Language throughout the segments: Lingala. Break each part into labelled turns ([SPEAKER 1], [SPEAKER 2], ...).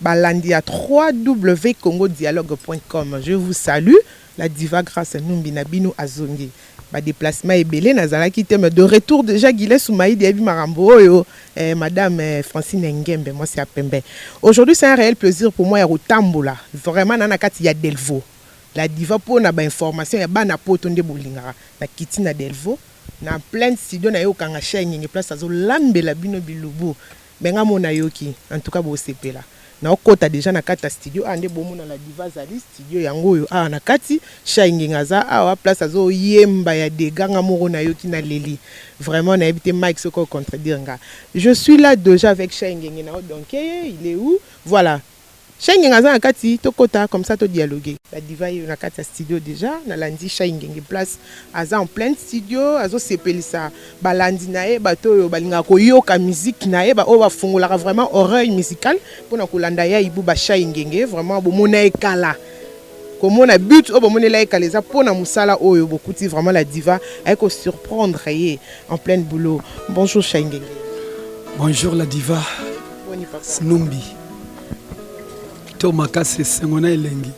[SPEAKER 1] Balandi ya www.congodialogue.com je vous salue la diva grace numbi na bino azongi ba deplacement ebele nazalaki te mais de retour dejà guilain soumaidi ayebi makambo oyo eh, madame eh, francine ngembe mwasi ya pembe aujourd'hui c'est un réel plaisir pour moi ya kotambola vraiment na na kati ya delvo la diva mpo na bainformation ya bana poto nde bolingaka na kiti na delvo na pleine studio na ye okanga shengenge place azolambela bino bilubu Mais nga mona yoki en tout cas bo sepela nao kota dejà na kati ya studio awa nde bo mona la diva azali studio yango oyo awa na kati shay ngenga aza awa place azo yemba ya degat nga moko na yoki na leli vraiment na yebi te Mike soki oko contredire nga je suis là dejà avec shay ngenge nao donke ye il est où voilà Shy ngenge aza na kati to kota comme ça to dialoguer. Ba diva yeyo na kati ya studio dejà na landi shy ngenge place aza en pleine studio azo sepelisa ba landi na ye bato oyo ba lingaka ko yoka musique na ye ba oyo ba fongolaka vraiment oreille musicale pona ko landa ya ibuba shy ngenge vraiment bo mona ye kala komona but oyo bomonela ye kala eza mpo na mosala oyo bokuti vraiment la diva aye ko surprendre ye en pleine boulot bonjour shaingenge bonjour
[SPEAKER 2] la diva snumbi to makasi esengo na elengi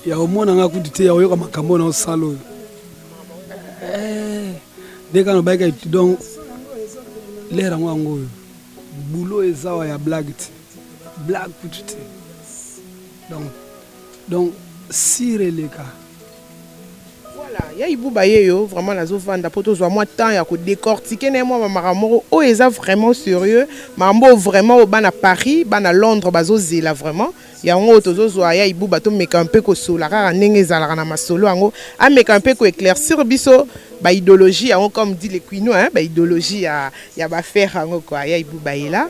[SPEAKER 2] ya omona nga kutu te ya oyoka makambo na osala oyo eh, nde kaka nabayika donc lere yango yango oyo bulo ezawa ya blague te blague kutu te donc donc sire eleka
[SPEAKER 1] voilà ya ibuba ye yo vraiment nazovanda mpo tozwa mwa temps ya kodecortike na ye mwa bamaka moko oyo eza vraiment sérieux makambo oyo vraiment oyo bana paris bana londres bazozela vraiment yango oyo tozozwa ya ibuba tomeka mpe kosola kaka ndenge ezalaka na masolo yango ameka mpe koeclaircir biso baidéologie yango comme dit le quinois baidéologie ya, ya bafere yango kua ya ibuba ye la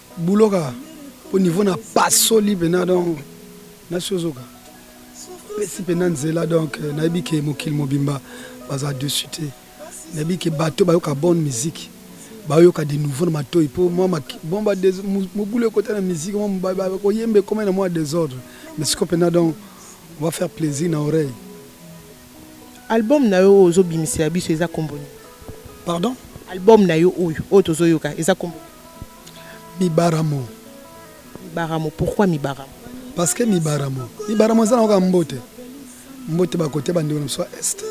[SPEAKER 2] Boulot kaka po niveau na pasoli pena donc nasi ozoka pesi pena nzela donc euh, nayebi ke mokili mobimba baza dessus te nayebi ke bato bayoka bonne musique bayoka de nouveau na matoi po mwa bon ba mobulu ekota na musique mwa bakoyemba ekomai na mwa desordre mais siko pena donc on va faire plaisir na oreille
[SPEAKER 1] Album na yo oyo ozo bimisela biso eza kombo nini? Pardon?
[SPEAKER 2] Album na yo
[SPEAKER 1] oyo oyo tozo yoka eza kombo nini?
[SPEAKER 2] Mibaramo.
[SPEAKER 1] Mibaramo, pourquoi Mibaramo? Parce que Mibaramo,
[SPEAKER 2] Mibaramo eza na kaka mbote. Mbote ba kote ba ndeko na biso ya Est.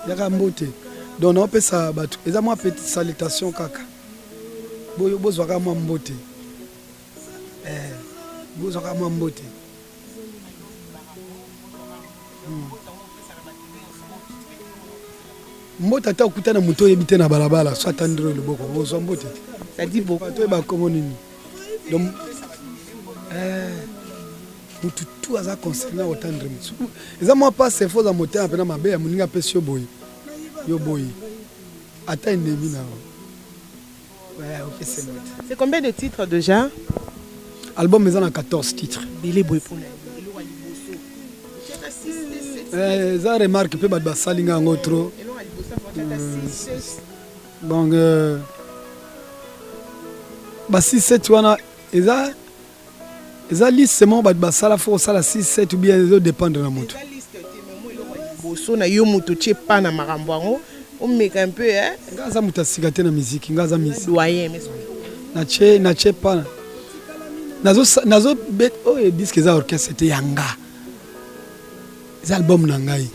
[SPEAKER 2] Yaka mbote. Donc na opesa batu eza mwa petite salutation kaka. Boyo bozwa kaka mwa mbote. Eh, bozwaka mwa mbote hmm. mbote ata okuta na moto oyebi te na balabala so atandiro loboko ozwa mbote te bato
[SPEAKER 1] oyo bakomo nini
[SPEAKER 2] donc eh, motu tu aza concerne otandre motu eza mwa pasi efo oza motema mpena mabe ya moninga apesi yo boye yo boye ata endemi na yo C'est combien de
[SPEAKER 1] titres déjà Album
[SPEAKER 2] eza na 14 titres. Billy Boy pona. Eh, eza remarque mpe bato basali nga yango trop donc ba 6 7 wana eza Eza liste moko bato basala fo kosala 6 7 ou bien ezo dépendre na moto.
[SPEAKER 1] Boso na yo moto otie pa na makambo yango omeka un peu eh. Nga aza moto asika
[SPEAKER 2] te na miziki nga aza misi. Doyen mais
[SPEAKER 1] natie
[SPEAKER 2] natie pa nazo nazo bet oyo oh, disque eza orchestre te ya nga eza album na ngai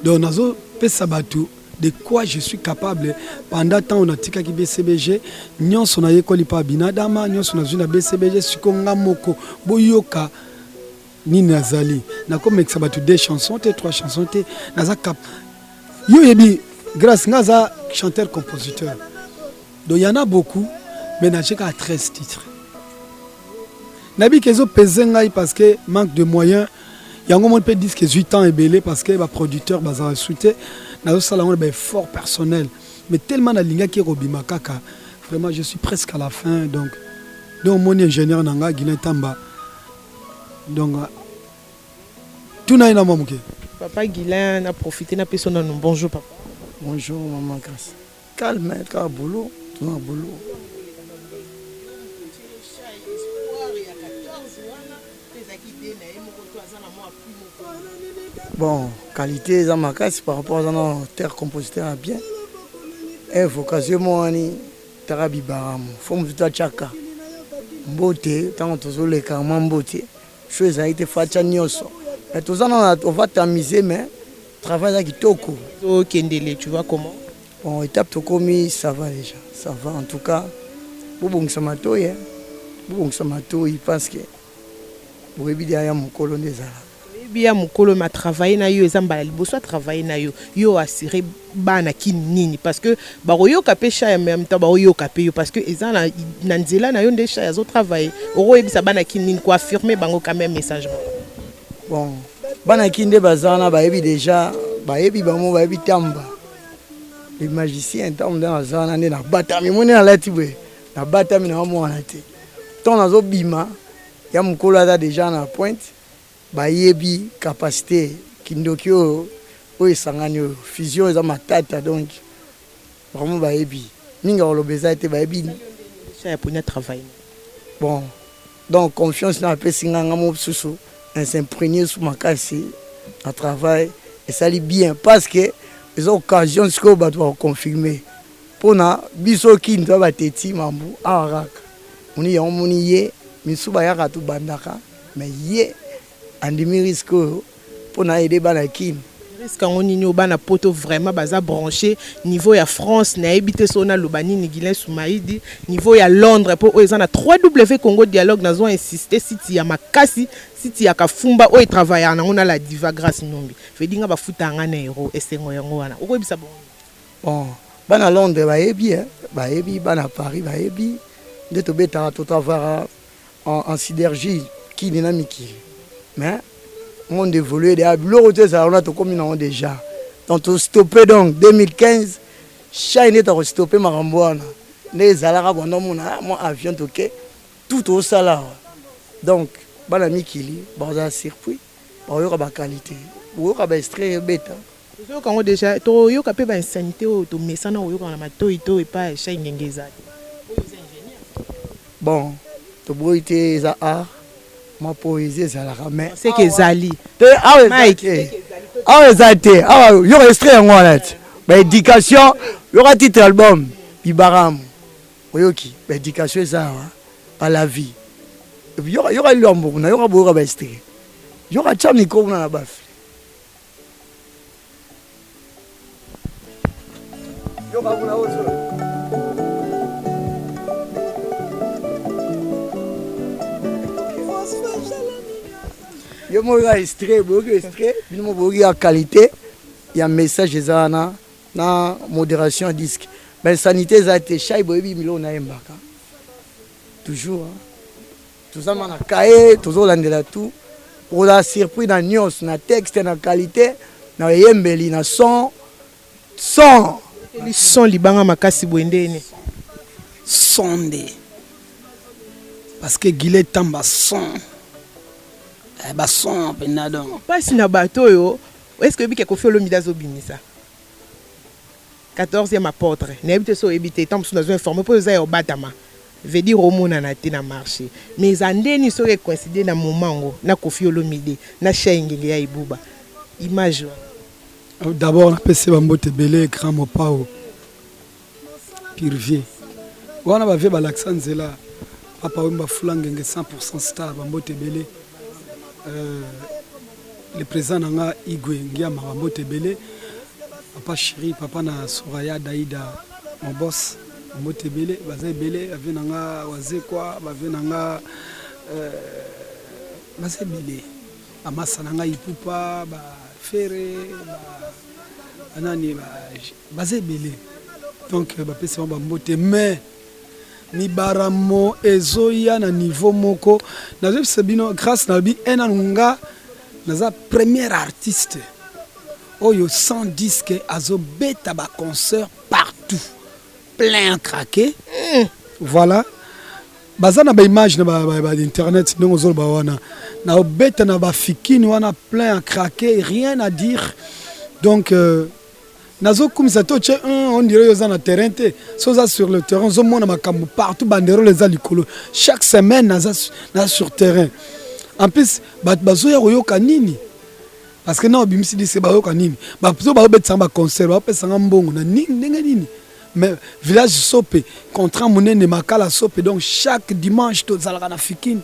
[SPEAKER 2] donc nazo pesa bato de quoi je suis capable pendant ntango natikaki bcbg nyonso nayekoli mpa binadama nyonso nazwi na bcbg siko nga moko boyoka nini nazali nakomekisa bato deux chansons te trois chansons te naza cap yo oyebi grace nga aza chanteur compositeur Donc y'en a beaucoup mais na cheka 13 titres. Na bi kezo pese ngai parce que manque de moyens yango mon pe disque 8 ans ebele parce que ba producteurs bazala soute na zo sala ngona ba effort personnel mais tellement na linga ki robima kaka vraiment je suis presque à la fin donc donc mon ingénieur na nga Guilain Tamba donc tout na ina mamuke papa Guilain
[SPEAKER 1] na profiter na peso na bonjour papa bonjour maman
[SPEAKER 3] Grace Calme kaka boulot tuna boulot. Bon, qualité eza makasi par rapport aza na terre compositeur ya bien e vocation mo wani taka bibaramu fo mosusu atyaka mbote ntango tozoleka mwa mbote Show ezali te facha nioso. Mais toza na on va t'amuser mais travail là kitoko. Zo kendele
[SPEAKER 1] tu vois comment? Bon étape
[SPEAKER 3] tokomi ça va déjà. Ça va en tout cas. Bobongisa matoyi. Hein? Bobongisa matoyi parce que boyebi dia ya mokolo nde ezala. Boyebi ya mokolo
[SPEAKER 1] ma travailler na yo eza mbala liboso a travailler na yo. Yo assurer bana kin nini parce que bakoyoka pe sha ya meme temps bakoyoka pe yo parce que eza na, na nzela na yo nde sha azo travailler okoyebisa bana kin nini ko affirmer bango quand même message moko bon
[SPEAKER 3] bana kin nde baza wana bayebi deja bayebi bango bayebi tamba le magicien ntango nde naza wana nde nabatami moni nalati boye nabatami na bamwana te ntango nazobima ya mokolo aza deja na pointe Bayebi capacite kindoki oyo oyo esangani oyo fusion eza matata donc vraiment bayebi mingi ya koloba eza te bayebi ça ya pona
[SPEAKER 1] travail bon
[SPEAKER 3] donc confiance na apesi nga nga mosusu na s'imprégner sous makasi na travail esali bien parce que eza occasion sikoyo bato bakoconfirme mpo na biso kinto ya bateti mambu awa kaka moni yango moni ye misu bayaka tobandaka Mais ye andimi risque oyo mpo na aide bana Kin. Risque yango nini oyo
[SPEAKER 1] bana poto vraiment baza branche niveau ya France nayebi te so naloba nini Gilen Sumaidi niveau ya Londres mpo oyo eza na 3W Congo Dialogue nazo insiste site ya makasi site ya kafumba oyo etravaillaka nango na la diva Grace Numbi fedinga bafutaka ngai na euro esengo yango wana okoyebisa bongo bon
[SPEAKER 3] bana Londres bayebi eh? bayebi bana Paris bayebi nde tobetaka totavara en, en synergie kini na mikili mais monde évolue deja ah, biloko te ezala wana tokomi nango deja donc tostoppe donc 2015 chai nde takostoppe makambo wana nde ezalaka banda omona ah, mwa avion toke tout tosala awa donc bana mikili bakozala surpris bakoyoka baqualité boyoka baestrai ebeta Tozo yoka ngo dejà
[SPEAKER 1] to yoka pe ba insanité oyo to mesana ko yoka na matoyi to epa chai ngenge eza te.
[SPEAKER 3] Bon, to boyi te eza art. Mwa poésie ezalaka mais c'est que ezali.
[SPEAKER 1] Te awa ezali te. Awa
[SPEAKER 3] ezali te. Awa yoka extrait yango wana ti. Ba éducation yoka titre album Bibaramu. Oyoki ba éducation eza awa pa la vie. Yoka yoka liwa mboku na yoka boyoka ba extrait. Yoka cha micro kuna na bafi. Yo babu na ozo. Yo mo ga extrait, bo ga extrait, bino mo bo ga qualité ya message eza wana na modération ya disque. Ben sanité eza te, shai boyebi milo na yembaka. Toujours hein. toza ma na kaye tozolandela tout okozala surpris na nyonso na texte na qualité na eyembeli na son son
[SPEAKER 1] son libanga makasi boye nde ene
[SPEAKER 2] son nde parce que gile tamba son eh, bason mpenza donc mpasi na bato oyo
[SPEAKER 1] est ce que oyebiki ekofi olomide azobimisa Quatorzième apotre nayebi te soki oyebi te, tango mosusu nazo informer po eza ya obatama veut dire omonana te na marche mais eza ndeni soki e coincider na moment yango na koffi olomide na shey ngenge ya ibuba image wana.
[SPEAKER 2] D'abord napesi ba mbote ebele grand mopao purvie wana ba vie balakisa nzela papa wemba fula ngenge 100% star ba mbote ebele euh, le président na nga igwe ngia makambo te ebele papa chéri papa na soraya daida mon boss mbote ebele baza ebele bave na nga wazekwa bave na nga euh, baza ebele bamasa na nga ipupa bafere banani baza ebele donc bapesi bango bambote mais mibaramo ezoya na niveau moko nazobisa bino grâce na bi ena nga naza premier artiste oyo sans disque azobeta ba concert partout plein à craquer mm. voilà baza na baimage na bainternet ndenge ozoloba wana na obeta na bafikini wana plein à craquer rien à dire donc euh, nazo kumisa to che un on dirait oza na terrain te so za sur le terrain zo mona makambo partout banderole eza likolo chaque semaine naza na sur terrain en plus bato bazoya koyoka nini parce que na obimisi dise bayoka nini bato baobetisanga baconcert baopesanga mbongo na nini ndenge nini mais village sope contrat monene makala sope donc chaque dimanche tozalaka na fikini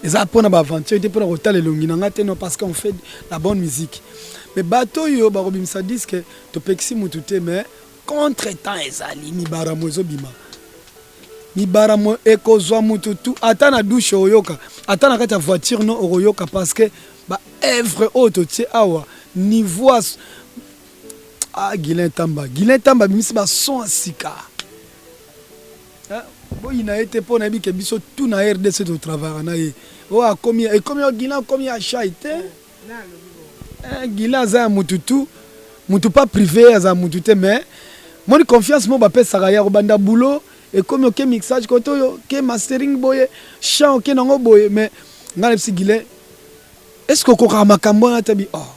[SPEAKER 2] eza mpona baaventure te mpona kotala elongi na ngai te non parce qu'on fait la bonne musique mais bato oyo bakobimisa diske topekisi motu te mais contre temps ezali mibaramo ezobima mibaramo ekozwa motu tu ata na dushe oyoka ata na kati ya voiture no okoyoka parce que baevre oyo totie awa niveau ah, gilen tamba gilen tamba abimisi bason ya sika Hein? boyina ye te mpo nayebi ke biso tout na rdc totravaka na ye oyo oh, akomi ekomi oyo gila akomi ya shai te eh, gila aza ya mutu tu mutu pas privé aza mutu te mais moni confiance mo bapesaka ye akobanda boulot ekomi oke mixage kote oyo oke mastering boye chant oke nango boye mais ngai nayebisi gile est ce que okokaka makambo wana tabi oh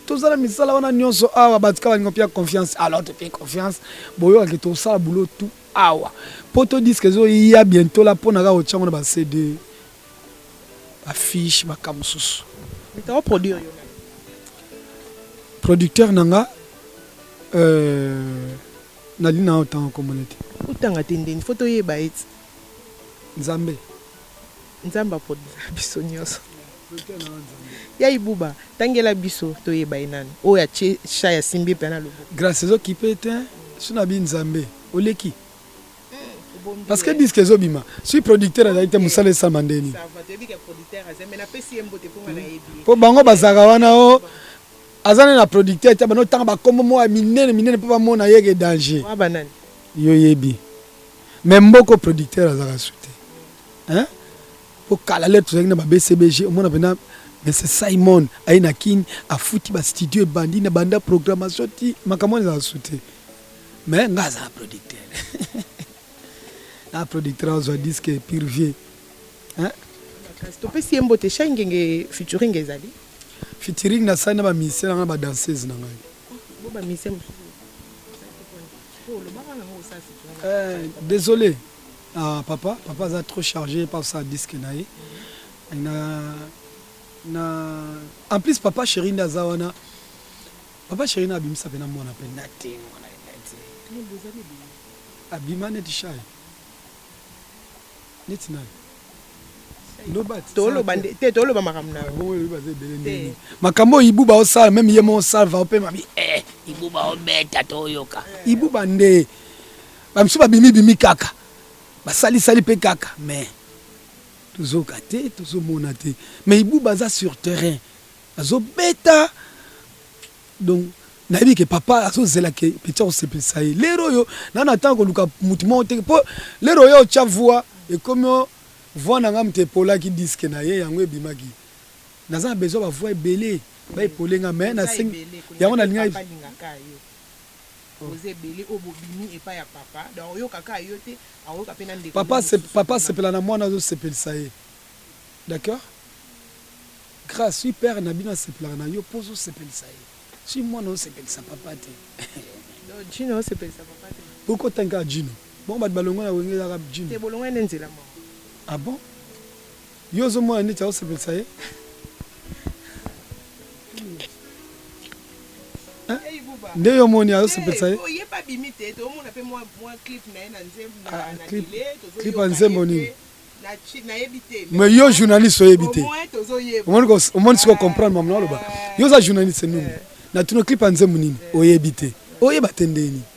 [SPEAKER 2] tozala misala wana nyonso awa bato kaka balingo mpe ya confiance alors te mpe confiance boyokaki tosala boulot tout Awa poto disque ezo ya bientôt la pona ka otiango na ba CD ba fiche ba kamususu. Mitao produire
[SPEAKER 1] yo.
[SPEAKER 2] Producteur nanga euh nali na otanga komona te. Otanga te ndeni
[SPEAKER 1] faut toyeba eti. Nzambe. Nzambe aponela biso nioso. Ya ibuba tangela biso toyeba ye nani oyo atie chat ya simbi epela na loboko. Grace ezo kipe tein
[SPEAKER 2] soki na bi nzambe oleki parce que disque ezo bima soki producteur azali te musala esama nde nini
[SPEAKER 1] po bango bazalaka wana
[SPEAKER 2] o aza nde na producteur te bando tanga bakombo moko ya minene minene mpo bamona yeke danger
[SPEAKER 1] yo yebi
[SPEAKER 2] mais mboko producteur azalaka su te hein po kala lelo tozalaki na ba bcbg omona pena mese simon aye na kin afuti bastudio ebandi na banda programmation ti makambo wana ezala su te mais ngai azala producteur na producteur azwa diske purvier
[SPEAKER 1] topesi ye mbote shai ngenge featuring ezali featuring
[SPEAKER 2] nasali na bamusicien nanga na badanseuse na ngai oh,
[SPEAKER 1] eh,
[SPEAKER 2] désolé Ah, papa, papa aza trop chargé par sa disque na ye. Na, na, en plus papa chéri nda aza wana. Papa chéri na abimisa pena mwana pe na te mwana neti. Ni boza ni boza. Abima neti shy. Neti nayo.
[SPEAKER 1] te toloba makambo na ah,
[SPEAKER 2] makambo oyo ibuba osala meme ye mo osalva opema bi eh, ibuba obeta toyoka ibuba nde Ba misusu ba bimi bimi kaka. Ba sali sali pe kaka mais tozoka te tozomona te mais ibuba aza sur terrain azobeta donc nayebi ke papa azozela ke peti akosepelisa ye lero oyo nana atanga koluka motu moko te mpo lero oyo otya vua ekomi o vua na ngai moto epolaki diske na ye yango ebimaki naza na besoin bavua ebele baepole ngai me nasengi yango nalingaki boza ebele oyo bobimi epai ya papa donc oyoka kaka yo te akoyoka mpe na ndeko papa asepela na mwana azosepelisa ye d'accord grâce wi père na bino asepelaka na yo mpo ozosepelisa ye si mwana osepelisa papa te jino
[SPEAKER 1] osepelisa papa te bokotanka jino
[SPEAKER 2] bongo bato balongo na wenge ezaka jino te bolongo ene nzela
[SPEAKER 1] moko ah bon
[SPEAKER 2] Yo ozo mona neti azo sepelisa ye? nde yo omoni azosepelisa ye clip ya nzembo nini mais yo journaliste oyebi te omoni siko comprendre mama naloba yo oza journaliste nini natuna clip ya nzembo nini oyebi te oyeba te ndeni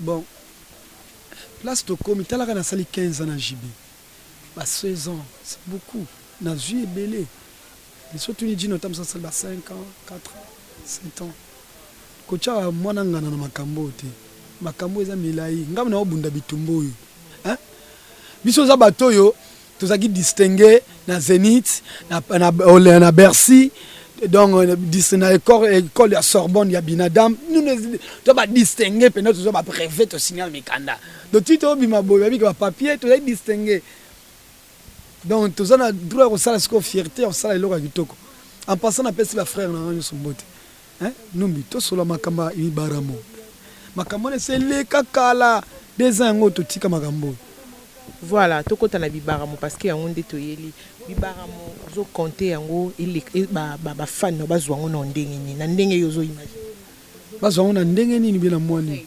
[SPEAKER 2] Bon place tokomi tala kaka nasali 15 ans na JB ba 16 ans c'est beaucoup nazui ebele mais soki otuni Djino ata mosala asali ba 5 ans 4 ans 7 ans kotyaka mwana ngana na makambo oyo te makambo eza milai ngai naobunda bitumba oyo biso oza bato oyo tozalaki distingue na Zenith na, na, na, na Bercy donc euh, na école ya sorbonne ya binadam to badistingue mpenza toza bapreve tosignale mikanda donc ti tobima boye babiki bapapier tozali distingue donc toza na droit ya kosala sikoyo fierté ya kosala eloko ya kitoko en passant napesi bafrère na nga nyonso mbote Hein? Numbi tosola makambo ya Ibaramo. Makambo wana eseleka kala. Deux ans yango totika makambo oyo. Voilà,
[SPEAKER 1] tokota na bibaramo parce que yango nde toyeli. Bibaramo ozo compter yango eleka e, ba ba, ba fan no bazwa yango na ndenge nini? Na ndenge yo ozo imaginer. Bazwa yango na
[SPEAKER 2] ndenge nini bien na mwa nini?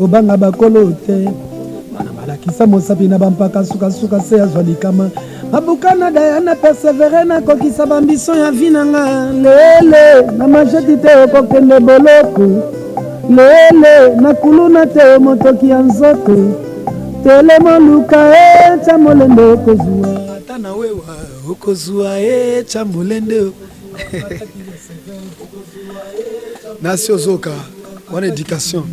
[SPEAKER 4] obanga bakolo te bana balakisa mosapi na bampaka sukasuka se azwa likama abuka na daya na persevere nakokisa bambiso ya vi na nga lele na majeti te okokende boloko lele na kuluna te motoki ya nzoto telema luka etya eh, molende okozwa ata na wewa okozwa etya eh, molende nasi ozoka wana education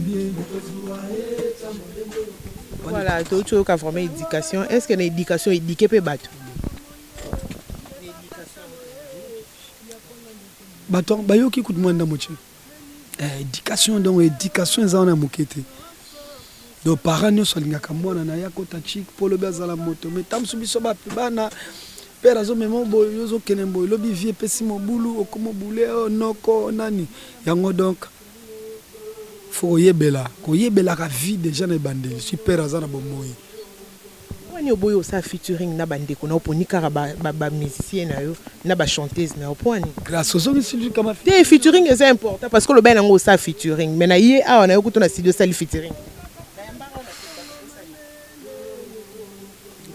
[SPEAKER 1] voilà touti oyoka vraiment éducation est ce que na éducation édike mpe bato
[SPEAKER 2] bato bayoki kutu mwa ndambo ce éducation donc éducation eza wana moke te do parent nyonso alingaka mwana na ye akota chik mpo lobi azala moto me ntango mosusu biso bape bana pere azomema oboye ozokende mboye lobi vie epesi mobulu okomobule o oh, noko nani yango donk fo koyebela koyebelaka vie deja na ebandeli si pere aza na bomoi Pourquoi
[SPEAKER 1] ni oboyi osala featuring na ba ndeko na yo poni kaka ba ba musiciens na yo na ba chanteuses na yo pourquoi ni? Grace ozongisi
[SPEAKER 2] likama. Te featuring eza
[SPEAKER 1] important parce que olobaki na nga osala featuring mais na ye awa na yo kutu na studio osali featuring.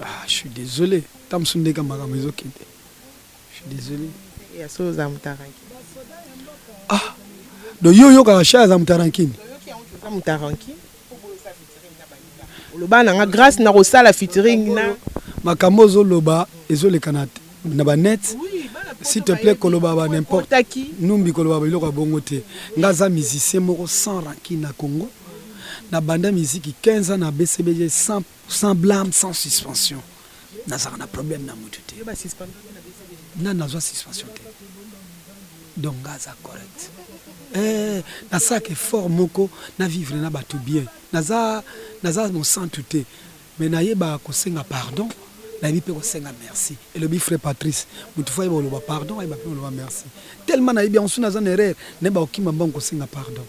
[SPEAKER 2] Ah je suis desole tango mosusu ndenge makambo ezokende je suis desole. Ya solo oza mutaranki. Ah donc yo oyokaka Charles aza mutaranki? Oyoki yango oza mutaranki?
[SPEAKER 1] Oloba na nga grace na kosala featuring na makambo ozo
[SPEAKER 2] loba ezo leka na na ba net s'il te plaît koloba ba n'importe numbi koloba ba biloko ya bongo te nga aza musicien moko sans rancune na Congo na banda musique 15 ans na BCBG sans Sans blame sans suspension nazalaka na problème na mutu te nani nazwa suspension te donc nga aza correct eh, nasalaka effort moko na vivre na bato bien naza, naza mosantu te me nayeba kosenga pardon nayebi mpe kosenga merci elobi frère patrice motu fo ayeba oloba pardon ayeba mpe oloba merci tellement nayebi yango soki naza na erreur nayeba kokima mbango kosenga pardon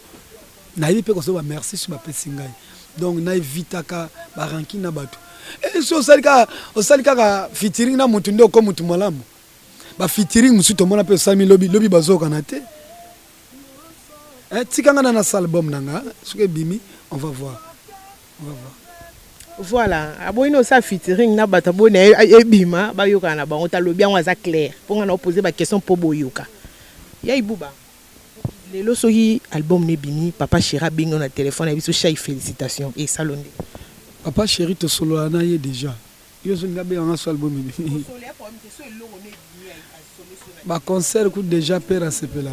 [SPEAKER 2] Nayebi pe kosoba merci sur bapesi ngai. Donc na evitaka ba ranki na bato. Et si osali kaka osali kaka featuring na mutu nde oko mutu malamu. Ba featuring mosusu tomona pe osali lobi lobi bazokana te. Eh, tika nga na na salle bombe na nga soki ebimi on va voir. On va voir.
[SPEAKER 1] voilà aboyi na osala featuring na bato aboyi na ebima bayokana na bango talobi yango aza claire mpo ngai na opose baquestion mpo boyoka ya ibuba Lelo soki album no ebimi papa cheri abengi yo na telephone ayebi so shai felicitations esali yo nde. Papa cheri
[SPEAKER 2] tosolola na ye dejà yo soki abenga nga so album ebimi ba concert kutu dejà père asepela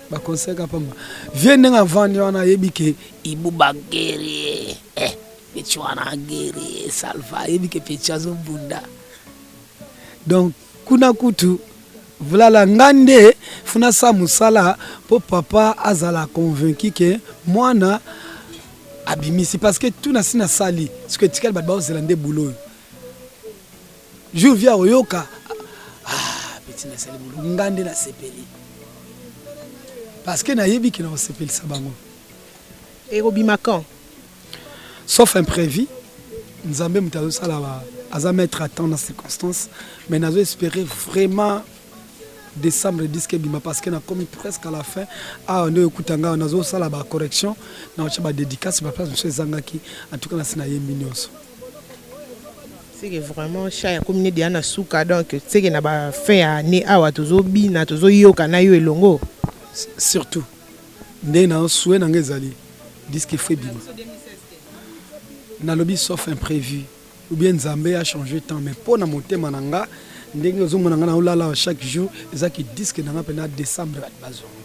[SPEAKER 2] ba concert ka pamba vieux ndenge avandi wana ayebi ke ibuba guerrier eh petit wana guerrier salva ayebi ke petit azo bunda donc kuna kutu vulala nga nde funa sa musala po papa azala convaincu ke mwana abimisi parce que tout nasi nasali soki etikali bato baozela nde bulo oyo jour via oyoka ah, peti nasali bulo nga nde nasepeli parce que nayebi ke nakosepelisa bango
[SPEAKER 1] ekobima quand
[SPEAKER 2] sauf imprévu nzambe moto azosala aza maître à temps na circonstance mais nazo espérer vraiment décembre disque ebima parce que nakomi presque à la fin awa nde okuta ngai nazosala ba correction na otya ba dédicace ba place mosusu ezangaki en tout cas nasi nayembi nyonso
[SPEAKER 1] seke vraiment cha ya komine deya na suka donc seke na ba fin ya année awa tozobina tozoyoka na yo elongo surtout
[SPEAKER 2] Nde na souhait na nga ezali disque il faut ebima. Nalobi sauf imprévu ou bien Nzambe a changer temps mais mpo na motema na nga ndenge ozomona nga naolala chaque jour eza ki disque na nga mpena décembre bato bazonga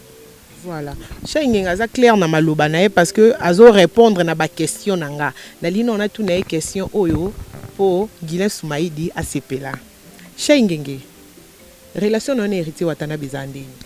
[SPEAKER 2] voilà
[SPEAKER 1] shengenga aza claire na maloba na ye parce que azo répondre na ba question na nga nalingi nao natuna ye question oyo mpo guilin sumaidi asepela shengenge relation na yo na héritier watanabe eza ndenge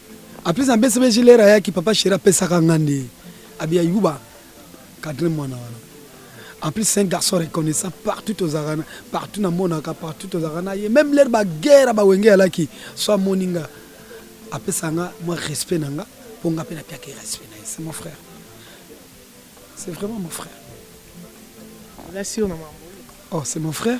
[SPEAKER 2] En plus ambesi be jilera yaki papa chéri apesaka nga nde abi ya yuba cadre mwana wana. En plus c'est un garçon reconnaissant partout ozalaka na partout namonaka partout ozalaka na ye même leur ba guerre ba wenge alaki so amoni nga apesa nga mwa respect na nga mpo nga mpe napiaka ye respect na ye c'est mon frère c'est vraiment mon frère.
[SPEAKER 1] Oza sur na maman. Oh c'est mon
[SPEAKER 2] frère.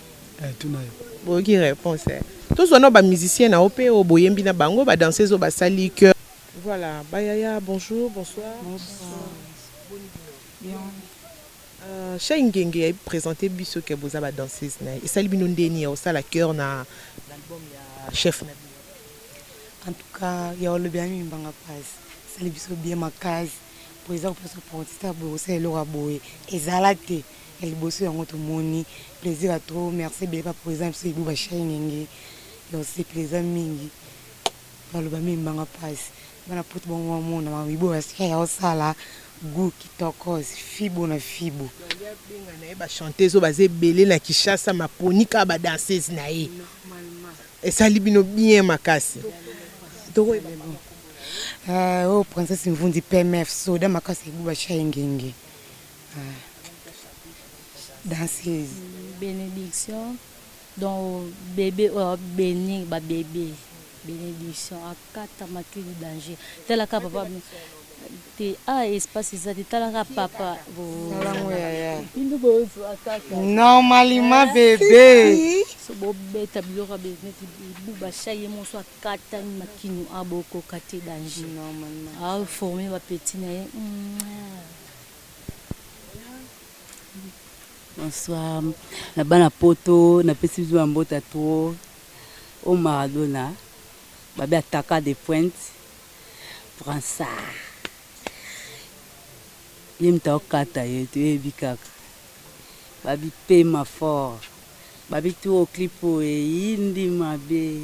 [SPEAKER 2] Eh, tuna yo. Boyoki réponse.
[SPEAKER 1] Eh. Tozwa no ba musiciens na yo pe oyo boyembi na bango ba danseuses oyo basali cœur. Voilà, Bayaya, bonjour, bonsoir. Bonsoir. Bien. Euh, Chez Ngenge, il présenté biso que boza ba danseuse na. Et sali bino ndeni au sala cœur na l'album ya chef na bino. En
[SPEAKER 5] tout cas, ya olobi ami mbanga passe. Sali biso bien makasi. Po eza ko pesa portita bo sala eloko boye. Ezala te. ya liboso yango tomoni plaisir ya trop merci ebele papa eza biso ibu ba shingenge ya osepela eza mingi maloba mingi mbanga pasi bana poto bango bamona mamibo basika ya osala gu kitokos fibo na fibo abenga na ye
[SPEAKER 1] bachanteuse oyo baza ebele na kinshasa maponi kaka badanseuse na ye esali bino bien makasi tokoyeba
[SPEAKER 5] oyo princesse mvundi pmf soda makasi ebuba shingenge danseuse benediction
[SPEAKER 6] donc bebe oyo oh, beni babebe benediction akata makili du danger talaka papa te a ah, espace eza te talaka papa normalement
[SPEAKER 5] eh? bebe so bobeta
[SPEAKER 6] biloko ya beneti bibuba sha ye moso akatani makinu abokoka te danger aforme bapeti na ye mm.
[SPEAKER 7] Bonsoir. Na bana poto na pesi biso na mbota trop o Maradona babe ataka de pointe bransard ye moto aokata ye toyebi kaka babipema fort babi tu o clip oyo eyindi mabe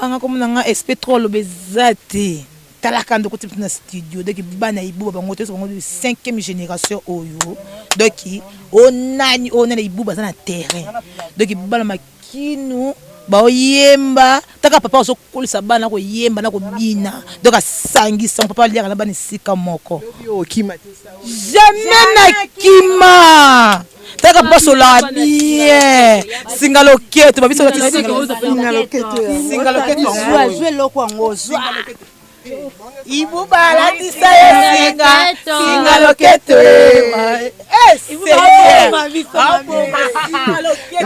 [SPEAKER 8] Ah, nga komona nga sp trop aloba eza te talaka ndoko ti na studio donc bana ibuba bango toyesa bango cinquième génération oyo donc o nani o nani ibuba aza na terrain donc bana makinu baoyemba taka papa azokolisa bana koyemba na kobina donc asangisa papa aliaka na bana esika moko jamais nakima Taka poso la bien. Singa loketo, ba biso loketo. Singa loketo. Singa loketo. Zwa
[SPEAKER 7] zwe loko yango zwa. Ibu
[SPEAKER 8] balatisa ye singa singa loketo. Eh,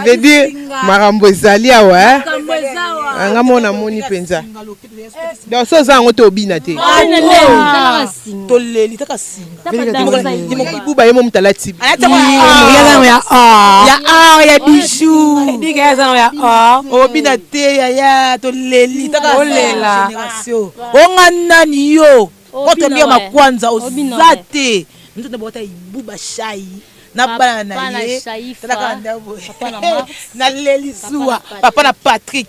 [SPEAKER 1] veut dire makambo ezali awa eh? nga mona moni mpenza donc so oza yango te obina te toleli
[SPEAKER 8] kaka singabuba
[SPEAKER 1] ye mo moto alati ya or
[SPEAKER 5] ya bijoubina te
[SPEAKER 8] yaya toleli kakagénération onga nani yo otombi ya makwanza oza te moto nde bokota ibuba shai na bana na ye talaka ndabo na leli zuwa papa na patrick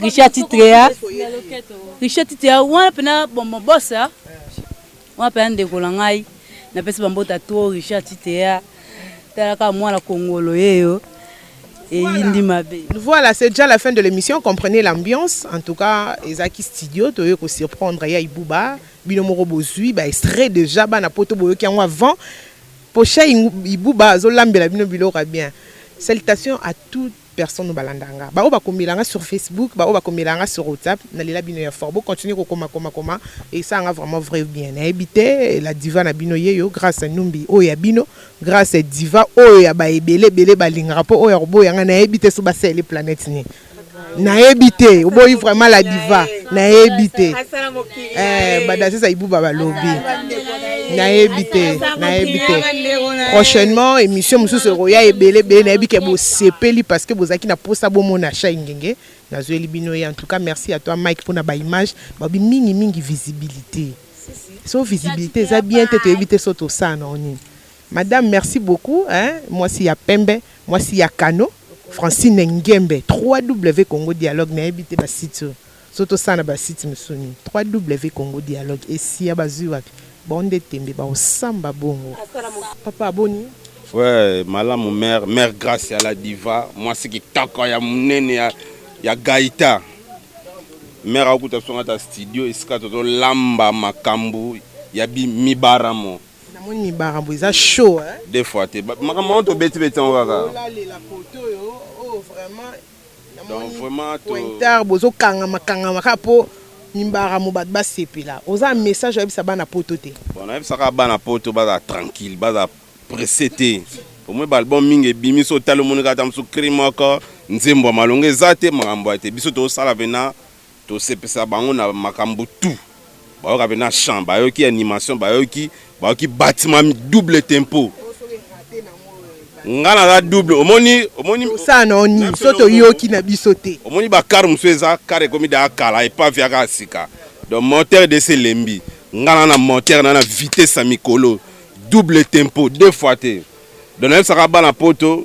[SPEAKER 7] Richard titre ya Richard titre ya wana pena bombo bossa wana pena ndeko na ngai napesi bambota to Richard titre ya talaka mwana kongolo yeyo eyindi mabe
[SPEAKER 1] voilà c'est déjà la fin de l'émission comprenez l'ambiance en tout cas ezalaki studio toye kosurprendre ya ibuba bino moko bozwi ba extrait déjà bana poto boyoki yango avant pocha ibuba azolambela bino biloko ya bien salutations à toutes personne oyo balanda nga ba oyo bakomela nga sur Facebook ba oyo bakomela nga sur WhatsApp na lela bino ya fort bo continuer ko koma koma koma et ça nga vraiment vrai bien na ebite la diva na bino yeyo grâce numbi oyo ya bino grâce diva oyo ya ba ebele ebele balingaka po oyo ya koboya nga na ebite so ba sele planète ni nayebi te oboyi vraiment la diva nayebi te Eh, badaziza ibuba balobi nayebi te nayebi te prochainement émission mosusu ekoya ebele ebele nayebi ke bosepeli parce que bozalaki na mposa bomona chai ngenge nazweli bino ye en tout cas merci à toi mike mpona baimage babi mingi mingi visibilité so visibilité eza bien te toyebi te so tosala nango nini madame merci beaucoup hein? mwasi ya pembe mwasi ya kano francine ngembe 3w congo dialogue nayebi te basite oyo Soki tosala na ba sites misusu nini? ww congo dialogue esia bazui wapi? Bango nde tembe bakosamba bongo. Papa boni? Ouais,
[SPEAKER 9] malamu mère, mère Grace ya la diva, mwasi kitoko ya munene ya, ya Gaita. Mère akuta biso ngata studio esika tozolamba makambo ya mibaramo. Namoni mibaramo
[SPEAKER 1] eza show hein. Deux fois te. Makambo
[SPEAKER 9] yango tobeti beti yango kaka. Olalelaka oto
[SPEAKER 1] yo, oh vraiment. donc
[SPEAKER 9] vraiment pointar bozo
[SPEAKER 1] kangama kangama kaka po mimbaramo bato basepela oza message oyebisa bana poto te bon nayebisa kaka bana
[SPEAKER 9] poto baza tranquille baza presse te omoi baalbum mingi ebimi so otali omoni kaka ta mosusu cri moko nzembo ya malonga eza te makambo ya te biso tozosala pena Tosepisa bango na makambo tout. Bayoka pena chant, bayoki animation, bayoki bayoki batiment double tempo. Nga naza double, omoni omoni Tosala na yo
[SPEAKER 1] nini so toyoki na biso te? omoni ba car mosusu eza
[SPEAKER 9] car ekomi da kala epave yaka ya sika donc moteur desi elembi nga na na moteur na na vitesse ya mikolo double tempo deux fois te donc nayebisaka bana poto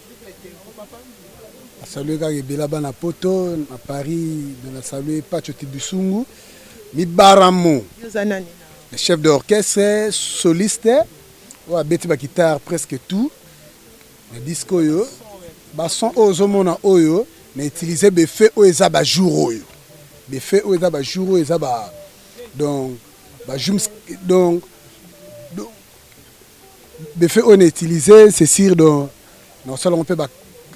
[SPEAKER 2] Nasalue kaka ebela bana poto na Paris, na nasalue Pacho Tibisungu Mibaramo, le chef d'orchestre soliste oyo abeti ba guitare presque tout na disque oyo. Ba son oyo ozomona oyo na utiliser befe oyo eza ba jour oyo befe oyo eza ba jour oyo eza ba donc ba jums donc Befe oyo na utilise c'est sur do nakosala yango mpe ba,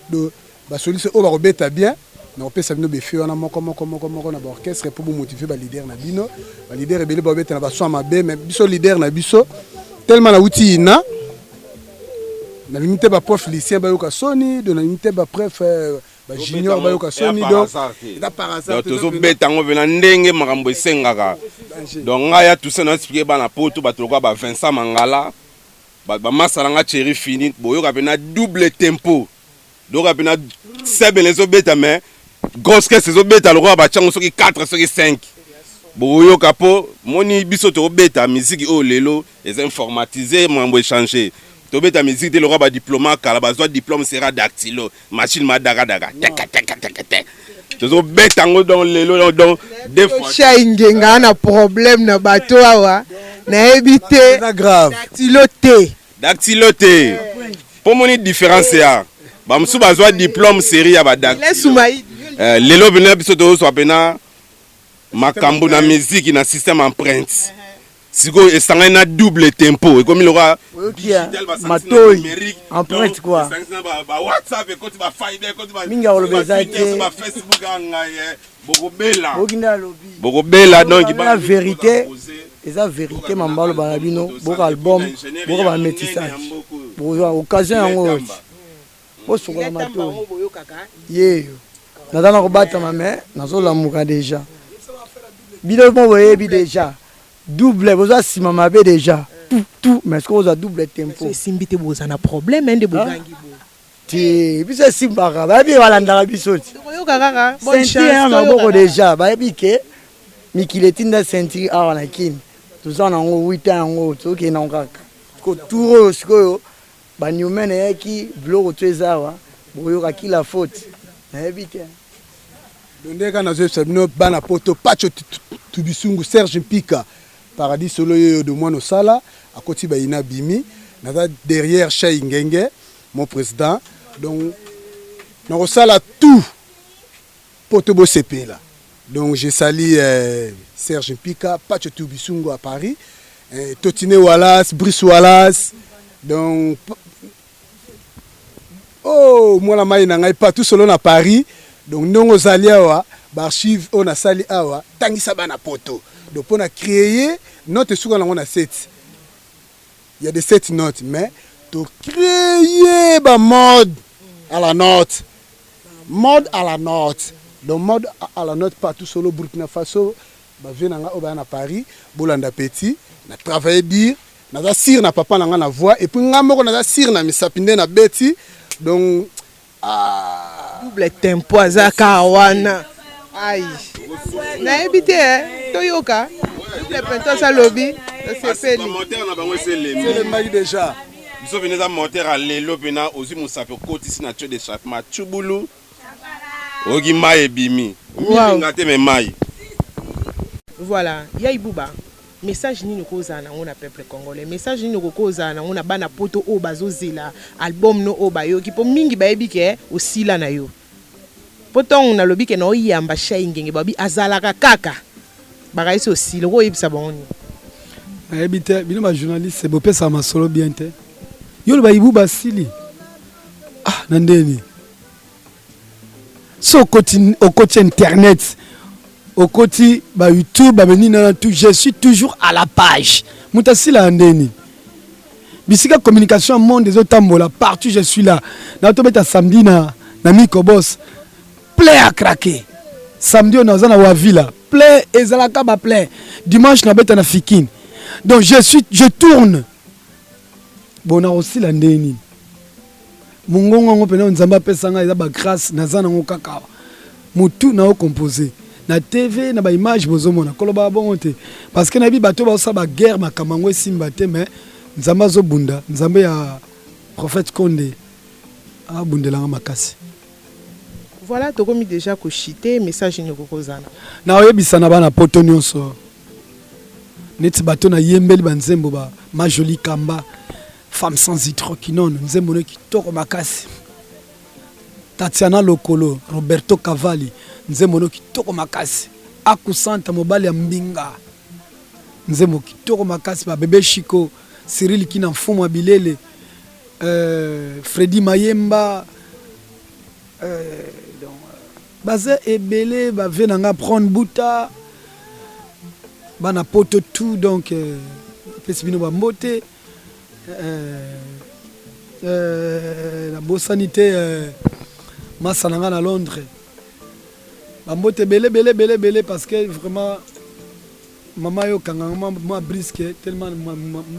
[SPEAKER 2] do, ba solution oyo bakobeta bien nakopesa bino befe wana moko moko moko moko na baorchestre mpo bomotive balider na bino balider ebele babeta na basoin mabe mais biso lider na biso tellement nauti ina nalingi te baprof lucien bayoka soni do nalingi te bapref euh, ba junior bayoka soni donc eza par hasard tozobeta yango mpe na
[SPEAKER 9] ndenge makambo esengaka donc ngai ya toussaint na explike bana poto bato lokola ba vincent mangala bamasala nga cheri fini boyoka mpe na double tempo boyoka mpe na sebele ezobeta mais grosse caisse ezobeta lokola batyango soki 4 soki 5 bokoyoka mpo moni biso tokobeta miziki oyo lelo Eza informatiser mambo echanger. Tobeta musique te lokola ba diploma kala bazwa diplome sera dactylo machine ma daka daka teka teka teka te. Tozo beta yango donc lelo donc donc deux fois. Tosha ingenga na
[SPEAKER 1] problème na bato awa nayebi te Eza grave. dactylo
[SPEAKER 2] te.
[SPEAKER 9] Dactylo te. Po moni différence ya ba mosusu bazwa diplome série ya ba dactylo. Laisse Soumaï. Eh, lelo bino biso tozwa pena makambo na miziki na système empreinte sikoyo esangani na double tempo ekomi lokola digital
[SPEAKER 3] matoi empreinte quoi esangani na ba, ba WhatsApp
[SPEAKER 9] ekoti ba Fiber ekoti ba mingi aloba eza te ba
[SPEAKER 3] Facebook anga
[SPEAKER 9] ye eh, bokobela bokinda lobi
[SPEAKER 3] bokobela donc ba
[SPEAKER 9] vérité
[SPEAKER 3] eza vérité mambalo ba bino boka album boka ba métissage bokozwa occasion yango bosokola matoi yeyo naza na kobatama me nazolamuka deja bino mo boyebi deja double boza nsima mabe deja tout tout mais soki ozwa double tempo esimbi te boza na
[SPEAKER 1] problème nde bogangi bo te biso
[SPEAKER 3] esimbaka bayebi balandaka biso ti
[SPEAKER 1] sentire ya maboko
[SPEAKER 3] deja bayebi ke mikili etinda sentire awa na kini toza na yango wita yango tokende yango kaka ko tour oyo sikoyo Ba newmen eyaki biloko tu eza awa bokoyoka ki la faute nayebi te. Dondeka
[SPEAKER 2] na zoyebisa bino bana poto pacho tubisungu Serge Mpika paradis solo yeyo de mwana osala akoti bayina bimi naza derrière Shay Ngenge mon président donc nakosala tout Poto bo sepela. Donc je sali euh, Serge Mpika, Pacho Tubisungo à Paris, euh, Totine Wallace, Brice Wallace. Donc oh mwana mai na ngai partout solo na Paris. Donc ndongo ozali awa ba archive oyo nasali awa tangisa bana poto. Donc pona créer note suka nango na seti. Il y a des sept notes, mais tu créer ba mode à la note. Mode à la note. Donc mode à la note partout sur le Burkina Faso, ba vie nanga oba na Paris, bolanda petit, na travailler dire, naza sir na papa nanga na voix et puis nga moko naza sir na misapi nde na beti. Donc Ah.
[SPEAKER 1] Double tempo aza kaka wana. Aïe. Nayebi te eh. Toyoka. Double tempo aza lobi. Nasepeli. Commentaire na bango
[SPEAKER 9] eselemi. Selembaki déjà.
[SPEAKER 2] Biso vini eza
[SPEAKER 9] moteur ya lelo mpena ozwi mosapi okotisi na tio de chapement tshubulu oyoki mai ebimi milinga te me mai
[SPEAKER 1] voilà ya ibuba Message nini okoki kozala nango na peuple congolais? Message nini okoki kozala nango na bana poto oyo bazozela album no oyo bayoki? Po mingi bayebi ke osila na yo. Po tongo nalobi ke naoyamba Shai Ngenge babi azalaka kaka. Bakaisi osila, okoki koyebisa bango nini? Nayebi
[SPEAKER 2] te, bino ba journaliste bopesaka masolo bien te. Yo oloba Ibuba asili? Ah, na ndenge nini? so okoti okoti internet okoti ba youtube babe nini na tout je suis toujours à la page moto asila ya nde nini bisika communication ya monde ezotambola partout je suis là na tobeta samedi na, na micobos plein à craquer samedi oyo naza na wavila plein ezalaka ba plein dimanche nabeta na fikine donc je suis je tourne bon nakosila nde nini mongongo yango mpenza oyo nzambe apesa ngai eza bagrace naza nango kaka motu na ocompose na tv na baimage bozomona koloba bongo te parce que nayebi bato baosala baguerre makambo yango esimba te mais nzambe azobunda nzambe ya prophète konde abundelanga makasi
[SPEAKER 1] voilà tokomi déjà kochite message nini okokozana na oyebisa na
[SPEAKER 2] bana poto nyonso neti bato nayembeli banzembo ba majoli kamba Femme sans hydroquinone, nzembo ne kitoko makasi. Tatiana Lokolo, Roberto Cavalli, nzembo ne kitoko makasi. Akusanta mobali ya mbinga. Nzembo kitoko makasi ba bebe Chico, Cyril Kina mfumu bilele. Euh, Freddy Mayemba euh, donc, baza ebele bave na nga prone buta bana poto tout donc euh, apesi bino bambote Euh, nabosani te euh, masa na ngai na londres bambote ebele ebele ebele ebele parce que vraiment mama yo kanganga mwa briske tellement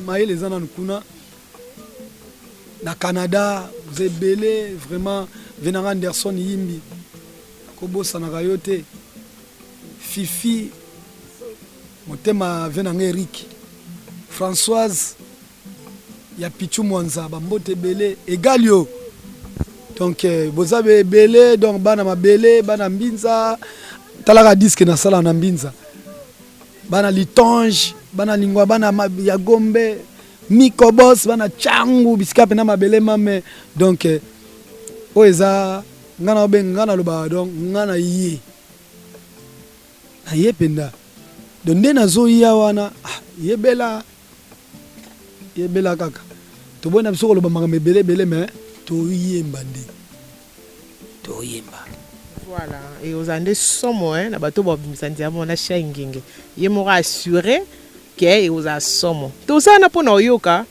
[SPEAKER 2] mayele eza nanu kuna na canada oza ebele vraiment venanga anderson yimbi kobosanaka yo te Fifi motema vie na nga Eric Françoise ya Pichu Mwanza bambote ebele egal yo donc euh, boza be ebele donc bana mabele bana mbinza talaka diske nasala na mbinza bana litange bana lingwa bana ya gombe mikobos bana cangu bisika mpena mabele mame donc euh, oyo eza ngai na obenga ngai nalobaka donc ngai na ye aye mpenza do nde nazoya wana ah, yebela yebela kaka toboyi na biso koloba makambo ebele ebele me toyemba nde toyemba
[SPEAKER 1] voilà e ozala nde somo eh, na bato babimisa nzambo na shia ingenge ye moko assure ke ekozala somo tosala na mpo na oyoka